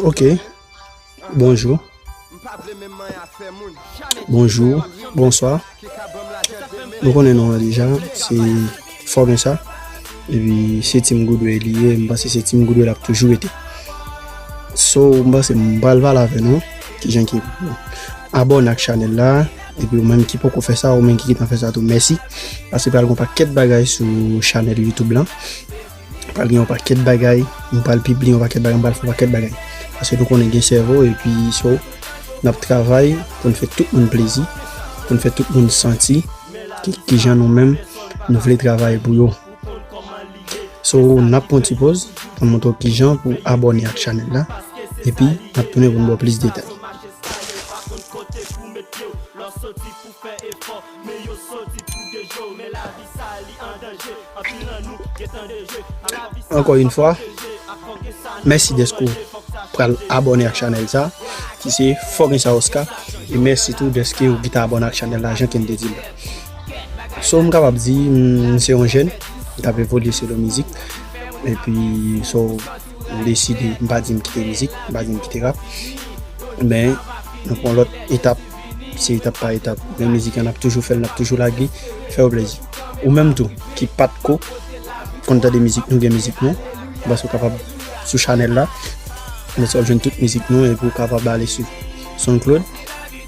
Ok Bonjou Bonjou Bonswa Nou konnen nou an deja Se Fòmè sa E pi se Team Goodway li ye M panse se Team Goodway l ap toujou rete So m panse m pa pral pale avè nou Ki jan ki Abòne ak chanèl la E pi ou menm ki poko fè sa Ou menm ki gentan fè sa tou Mèsi Paske pral gen yon pakèt bagay Sou chanèl Youtube la. Pral gen yon pakèt bagay, m pral pibliye yon pakèt bagay, m pral fè yon pakèt bagay. Paske nou konnen gen sèvo epi so n ap travay pou n fè tout moun plezi, pou n fè tout moun santi ki jan nou menm nou vle travay pou yo. So n ap pran ti poz pou n montre w ki jan pou abòne ak chanèl la epi n ap tounen pou n ba w plis detay. Men yo soti pou deje w men lavi sa a li an danje Anpil nan nou gentan deje ak lavi sa a Ankò yn fwa, mèsi dèske w pral abòne ak chanèl sa a ki se Fò Gen Sa Osca e mèsi tou dèske w gita abòne ak chanèl la jan Kenn te di l la So m kapab di m se yon jèn m t ap evolye selon mizik epi so m deside m pa di m kite mizik m pa di m kite rap men m pran lòt etap Se etap pa etap men mizik an nap toujou fèl nap toujou lage fèw plezi ou menm tou ki pat ko konn tande mizik nou gen mizik nou bas ou kapab sou chanèl la konsa wap jwenn tout mizik nou epi ou kapab ale sou soundcloud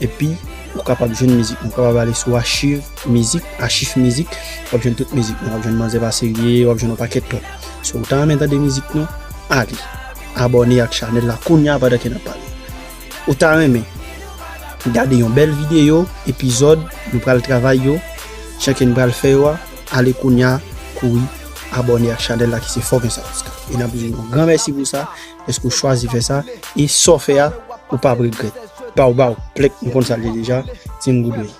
epi ou kapab jwenn mizik nou kapab ale sou achiv mizik achif mizik wap jwenn tout mizik nou wap jwenn manzè pa serye wap jwenn yon pakèt lòt si ou ta renmen tande mizik nou ale abòne ak chanèl la kounya pandan ke nap pale Ou ta renmen gade yon bèl videyo epizòd nou pral travay yo, chèke n pral fè yo a, ale kounya kouri abòne ak chanèl la ki se Fòk Gen Sa Pou Sa. E n ap di w yon gran mèsi pou sa, dèske w chwazi fè sa, e sa w fè a, ou p ap regrèt. Baww baww, plèk, nou konn sa l ye deja, Team Good Way.